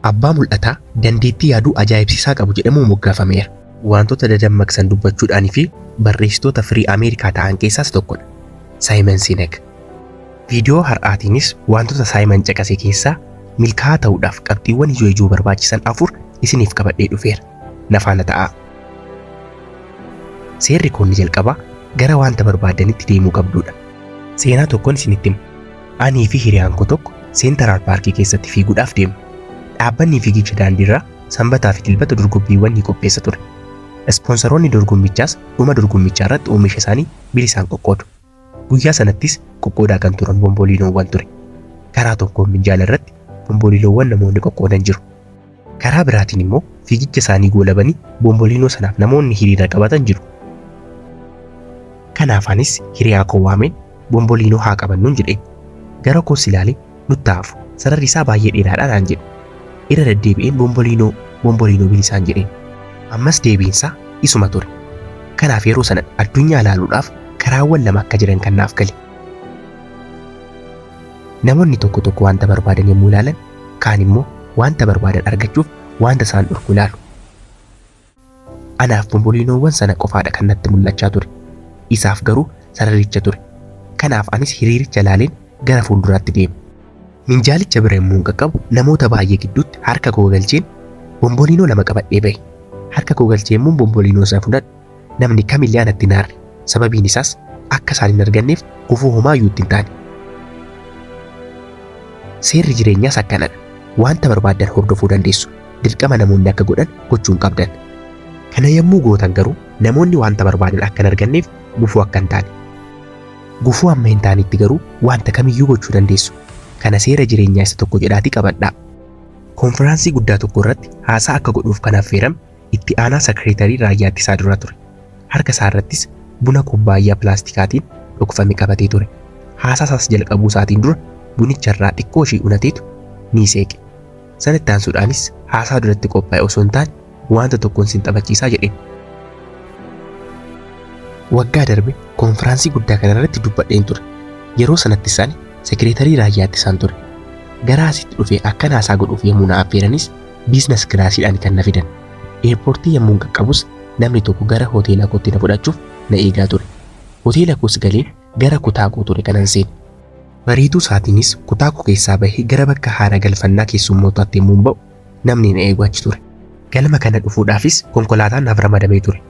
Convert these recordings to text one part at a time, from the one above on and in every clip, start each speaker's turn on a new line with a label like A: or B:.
A: Abbaa mul'ataa dandeettii yaaduu ajaa'ibsiisaa qabu jedhamuun moggaafameera. Wantoota dadammaqsan dubbachuudhaan fi barreessitoota firii Ameerikaa ta'an keessaas tokkodha. Saayiman Sinek. Viidiyoo har'aatiinis wantoota Saayiman caqase keessaa milkaa'aa ta'uudhaaf qabxiiwwan ijoo ijoo barbaachisan afur isiniif qabadhee dhufeera. Na faana ta'aa. Seerri koonni jalqabaa gara wanta barbaaddanitti deemuu qabduudha. Seenaa tokkon isinitti hima. Anii fi hiriyaan koo tokko Seentaraal Paarkii keessatti fiiguudhaaf deemne. Dhaabbanni fiigicha daandiirraa Sanbataa fi Dilbata dorgommiiwwan ni qopheessa ture. Ispoonsaroonni dorgommichaas dhuma dorgommichaa irratti oomisha isaanii bilisaan qoqqoodu. Guyyaa sanattis qoqqoodaa kan turan bomboliinoowwan ture. Karaa tokkoon minjaala irratti bomboliinoowwan namoonni qoqqoodan jiru. Karaa biraatiin immoo fiigicha isaanii goolabanii Bomboliinoo sanaaf namoonni hiriira qabatan jiru. Kanaaf anis hiriyaa koo waameen Bomboliinoo haa qabannuun jedheen. Gara koos ilaalee nutti haa hafu sararri isaa baay'ee dheeraadha naan jedhe. Irra deddeebi'een Bomboliinoo Bomboliinoo bilisaan jedheen. Ammas deebiin isaa isuma ture. Kanaaf yeroo sana addunyaa ilaaluudhaaf karaawwan lama akka jiran kan naaf gale. Namoonni tokko tokko wanta barbaadan yommuu ilaalan Kaan immoo wanta barbaadan argachuuf wanta isaan dhorku ilaalu. Anaaf bomboliinoowwan sana qofaadha kan natti mul'achaa ture. Isaaf garuu sararicha ture. Kanaaf anis hiriiricha ilaaleen gara fuulduraatti deeme. Minjaalicha bira yommuun qaqqabu namoota baay'ee gidduutti harka koo galcheen bomboliinoo lama qabadhee ba'e. Harka koo galchee yommuun bomboliinoo sana fudhadhu Namni kamillee anatti hin aarre, sababiin isaas akka isaan hin arganneef gufuu homaa iyyuu itti hin taane. Seerri jireenyaas akkana dha, wanta barbaaddan hordofuu dandeessu, dirqama namoonni akka godhan gochuu hin qabdan. Kana yommuu gootan garuu namoonni wanta barbaadan akka hin arganneef gufuu akka hin taane. Gufuu hamma hin taanetti garuu wanta kam iyyuu gochuu dandeessu. Kana seera jireenyaa isa tokko jedhaatii qabadhaa. Konfiraansii guddaa tokko irratti haasaa akka godhuuf kan affeerame Itti aanaa Sakreetarii Raayyaa Ittisaa duraa ture. Harka isaa irrattis buna kubbaayyaa pilaastikaatiin dhokfame qabatee ture. Haasaa isaas jalqabuu isaatiin dura bunicha irraa xiqqoo ishii unateetu ni seeqe. Sana itti aansuudhaanis haasaa duratti qophaa'e osoo hin taane waanta tokkoon sin taphachiisaa jedheen. Waggaa darbe konfiraansii guddaa kana irratti dubbadheen ture. Yeroo sanattis ani Sekreetarii Raayyaa Ittisaan ture. Gara asitti dhufee akkan haasaa godhuuf yommuu na affeeranis Biizines kilaasiidhaan kan na fidan. Eerpoortii yammuun qaqqabus namni tokko gara hoteela kootti na fudhachuuf na eegaa ture. Hoteela koos galee gara kutaa koo ture kanan seene. Bariituu isaatiinis kutaa koo keessaa bahee gara bakka haara galfannaa keessummootaatti yammuun ba'u namni na eegu achi ture. Galma kana dhufuudhaafis konkolaataan naaf ramadamee ture.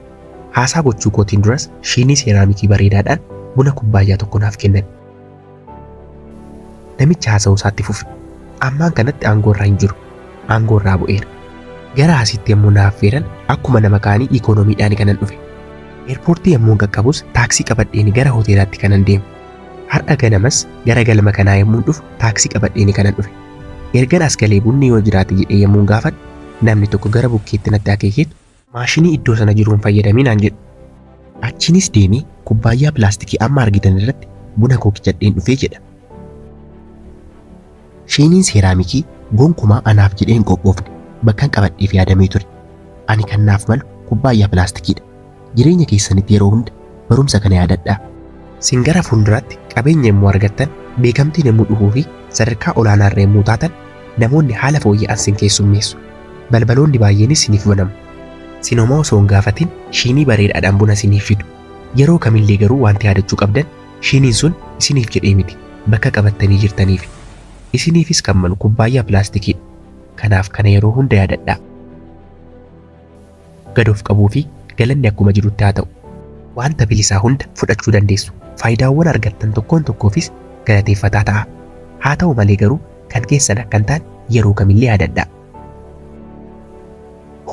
A: Haasaa gochuu kootiin duras shiinii seeraamikii bareedaadhaan buna kubbaayyaa tokko naaf kennan. Namichi haasa'uu isaatti fufe. Ammaan kanatti aangoo irra hin jiru. Aangoo irraa bu'eera. Gara asiitti yommuu na affeeran akkuma nama kaanii ikoonomiidhaan kanan dhufe. Eerpoortii yommuun qaqqabus taaksii qabadheen gara hoteelaatti kanan deemu. Har'a ganamas gara galma kanaa yommuun dhufu taaksii qabadheen kanan dhufe. Ergan as galee bunni yoo jiraate jedhee yommuun gaafadhu namni tokko gara bukkeetti natti akeekeetu Maashinii iddoo sana jiru hin fayyadamii naan jedhe. Achiinis deemee kubbaayyaa pilaastikii amma argitan irratti buna koo kijadheen dhufee jedha. Shiiniin seeraamikii gonkumaa anaaf jedhee hin qophoofne bakkan qabadheef yaadamee ture. Ani kan naaf malu kubbaayyaa pilaastikiidha. Jireenya keessanitti yeroo hunda barumsa kana yaadadhaa. Sin gara fuulduraatti qabeenya yommuu argattan, beekamtiin yommuu dhufuu fi sadarkaa olaanaa irra yommuu taatan namoonni haala fooyya'an sin keessummeessu. Balbaloonni baay'eenis isiniif banamu. Sin homaa osoo hin gaafatin shiinii bareedaadhaan buna isiniif fidu. Yeroo kamillee garuu wanti yaadachuu qabdan shiiniin sun isiniif jedhee miti, bakka qabattanii jirtaniifi. Isiniifis kan malu kubbaayyaa pilaastikiidha. Kanaaf kana yeroo hunda yaadadhaa. Gad of qabuu fi galanni akkuma jirutti haa ta'u. Wanta bilisaa hunda fudhachuu dandeessu. Faayidaawwan argattan tokkoon tokkoofis galateeffataa ta'aa. Haa ta'u malee garuu kan keessan akka hin taane yeroo kamillee yaadadhaa.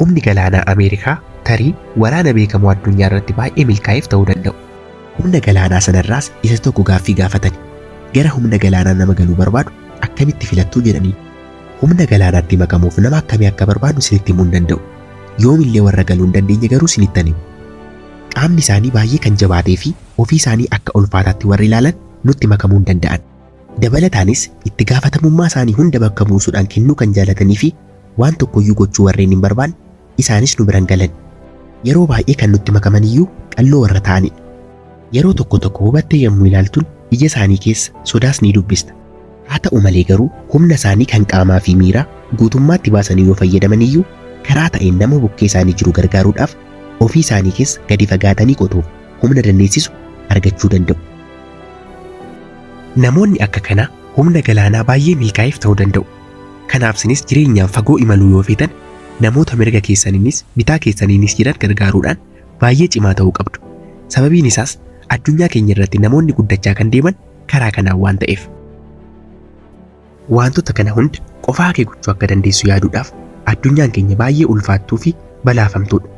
A: Humni galaanaa Ameerikaa tarii waraana beekamoo addunyaa irratti baay'ee milkaa'eef ta'uu danda'u. Humna galaanaa sana irraas isa tokko gaaffii gaafatani. Gara humna galaanaa nama galuu barbaadu akkamitti filattuu jedhaniin. Humna galaanaatti makamuuf nama akkamii akka barbaadnu isinitti himuu hin danda'u. Yoomillee warra galuu hin dandeenye garuu isinittan hima. Qaamni isaanii baay'ee kan jabaatee fi ofii isaanii akka ulfaataatti warri ilaalan nutti makamuu hin danda'an. Dabalataanis, itti gaafatamummaa isaanii hunda bakka buusuudhaan kennuu kan jaalatanii fi waan tokkoyyuu gochuu warreen hin barbaanne isaanis nu bira hin galani. Yeroo baay'ee kan nutti makaman iyyuu qalloo warra ta'ani dha. Yeroo tokko tokko hubattee yommuu ilaaltun ija isaanii keessa sodaas ni dubbista. Haa ta'u malee garuu humna isaanii kan qaamaa fi miiraa guutummaatti baasanii yoo fayyadaman iyyuu karaa ta'een nama bukkee isaanii jiru gargaaruudhaaf ofii isaanii keessa gadi fagaatanii qotuuf humna dandeessisu argachuu danda'u. Namoonni akka kanaa humna galaanaa baay'ee milkaa'eef ta'uu danda'u. Kanaaf sinis jireenyaan fagoo imaluu yoo feetan namoota mirga keessaniinis bitaa keessaniinis jiran gargaaruudhaan baay'ee cimaa ta'uu qabdu. Sababiin isaas addunyaa keenya irratti namoonni guddachaa kan deeman karaa kanaan waan ta'eef. Waantota kana hunda qofaa kee gochuu akka dandeessu yaaduudhaaf addunyaan keenya baay'ee ulfaattuu fi balaafamtuudha.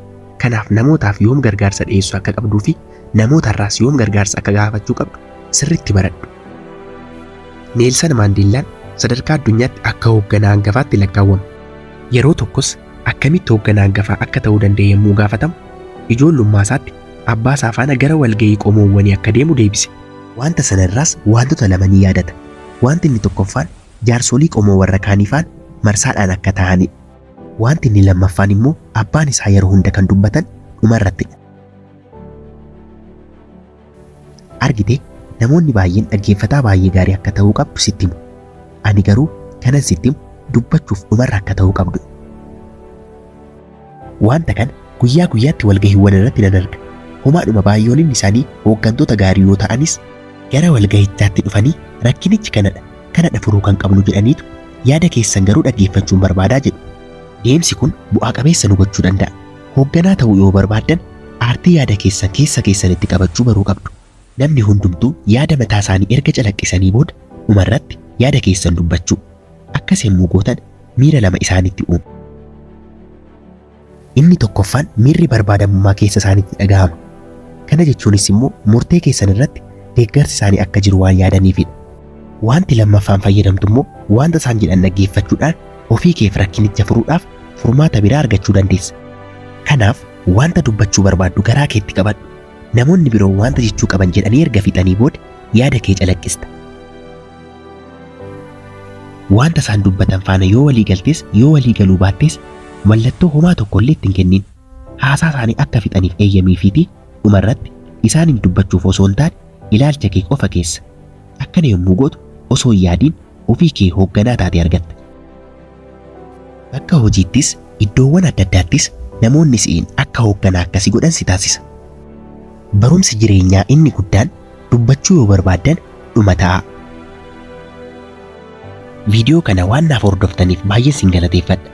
A: Kanaaf namootaaf yoom gargaarsa dhiyeessuu akka qabduu fi namootarraas yoom gargaarsa akka gaafachuu qabdu sirriitti baradhu. Neelsan Maandeellaan sadarkaa addunyaatti akka hoogganaa hangafaatti lakkaawwama. Yeroo tokkos akkamitti hoogganaa hangafaa akka ta'uu danda'e yommuu gaafatamu, ijoollummaasaatti abbaasaa faana gara walga'ii qomoowwanii akka deemu deebise. Wanta sana irraas wantota lama ni yaadata. Wanti inni tokkoffaan jaarsolii qomoo warra kaanii faana marsaadhaan akka taa'anidha. Wanti inni lammaffaan immoo abbaan isaa yeroo hunda kan dubbatan dhumarrattidha. Argite, namoonni baay'een dhaggeeffataa baay'ee gaarii akka ta'uu qabdu sitti himu. Ani garuu kanan sitti himu dubbachuuf dhumarra akka ta'uu qabdu. Wanta kana guyyaa guyyaatti walgahiiwwan irratti nan arga. Homaadhuma baay'oonin isaanii hooggantoota gaarii yoo ta'anis, gara walgahichaatti dhufanii rakkinichi kanadha, kanadha furuu kan qabnu jedhaniitu yaada keessan garuu dhaggeeffachuun barbaadaa jedhu. Deemsi kun bu'aa qabeessa nu gochuu danda'a. Hoogganaa ta'uu yoo barbaaddan aartii yaada keessan keessa keessanitti qabachuu baruu qabdu. Namni hundumtuu yaada mataa isaanii erga calaqqisanii booda dhuma irratti yaada keessan dubbachuu. Akkas yemmuu gootan miira lama isaanitti uumu. Inni tokkoffaan miirri barbaadamummaa keessa isaanitti dhagahama. Kana jechuunis immoo murtee keessan irratti deeggarsi isaanii akka jiru waan yaadaniifidha. Waanti lammaffaan fayyadamtu immoo waanta isaan jedhan dhaggeeffachuudhaan ofii keef rakkinicha furuudhaaf furmaata biraa argachuu dandeessa. Kanaaf wanta dubbachuu barbaaddu garaa keetti qabadhu. Namoonni biroo wanta jechuu qaban jedhanii erga fixanii booda yaada kee calaqqista. Wanta isaan dubbatan faana yoo walii galtes yoo walii galuu baattes mallattoo homaa tokko illee itti hin kennin. Haasaa isaanii akka fixaniif eeyyamiifiitii dhumarratti isaaniin dubbachuuf osoo hin taane ilaalcha kee qofa keessa. Akkana yommuu gootu osoo hin yaadiin ofii kee hoogganaa taatee argatta. Bakka hojiittis, iddoowwan adda addaattis namoonni si'iin akka hoogganaa akkasii godhan si taasisa. Barumsi jireenyaa inni guddaan dubbachuu yoo barbaaddan dhuma ta'aa. Viidiyoo kana waan naaf hordoftaniif baay'een sin galateeffadha.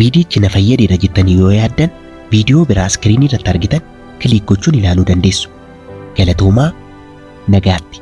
A: Viidiyichi na fayyadeera jettanii yoo yaaddan viidiyoo biraa iskiriinii irratti argitan kiliik gochuun ilaaluu dandeessu. Galatoomaa! Nagaatti!